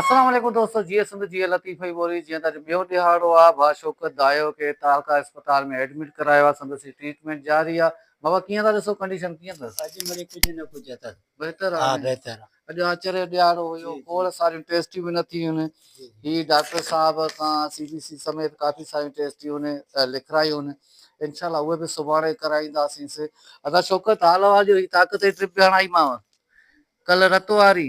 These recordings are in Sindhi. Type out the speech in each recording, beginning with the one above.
اسلام عليڪم دوستو جيئي سنڌ جيئي لطيف اي ٻولي جيئن ته اڄ ٻيو ڏهاڙو آ ڀا شوڪت دايو کي تعلقه اسپتال ۾ ايڊمٽ ڪرايو آ سندس هي ٽريٽمينٽ جاري آ بابا ڪيئن ٿا ڏسو ڪنڊيشن ڪيئن ٿس اڄ مڙي ڪجهه نه ڪجهه اٿس بهتر آ ها بهتر آ اڄ آچر جو ڏهاڙو هيو کوڙ ساريون ٽيسٽيون به نه ٿيون هي ڊاڪٽر صاحب کان سي بي سي سميت ڪافي ساريون ٽيسٽيون لکرايون انشاء الله اهي به سڀاڻي ڪرائينداسين ادا شوڪت حال احوال جو هي طاقت جي ٽرپ به هڻائي ماو ڪل رت واري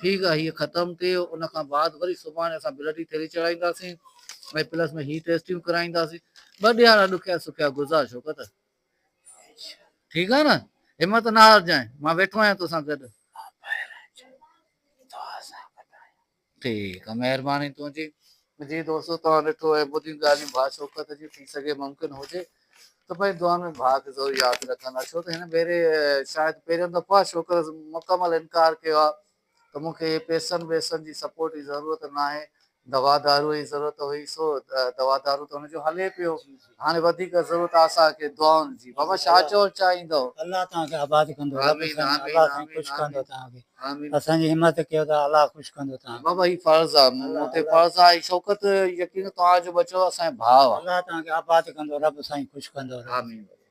ٺيڪ آ هيء ختم ٿئي ان کان بعد وري سڀاڻي اسان بلڊ جي ٿيلي چڙهائينداسين ۽ پلس ۾ هي ٽيسٽيون ڪرائينداسين ٻه ڏيهاڙا ڏکيا سکيا گذار شوڪت ٺيڪ آ نه همت نه هارجانء مان ويٺو آهيان توسان گڏ ٺيڪ آ مهرباني تنهنجي جي دوستو توهان ڏٺو اهي ٻڌين ڳالهيون ڀاء شوڪت جون ٿي سگهي ممڪن هجي ته پنهنجي دعائن ۾ ڀاء کي ضرور ياد رکندا ڇو ته هن ڀيري شايد پهريون دفعو آهي شوڪت مڪمل انڪار ڪيو آهي ته مون کي پيسن ويسن جي سپورٽ جي ضرورت ناهي دوا دارو جي ضرورت هئي سو دوا دارو ته هن جو هلي پيو هاڻي وڌيڪ ضرورت آ اسان کي دعائن جي بابا شاھ چوڻ چاهيندو. الله توهان کي آباد ڪندو. رب سائين الله سائين خوش ڪندو توهان کي اسان جي همت ڪيو ٿا الله خوش ڪندو توهان کي. بابا هي فرض آ مون تي فرض آ هي شوڪت يقين توهان جو ٻچو اسان جي ڀاء آ. الله توهان کي آباد ڪندو رب سائين خوش ڪندو. آمين بابا.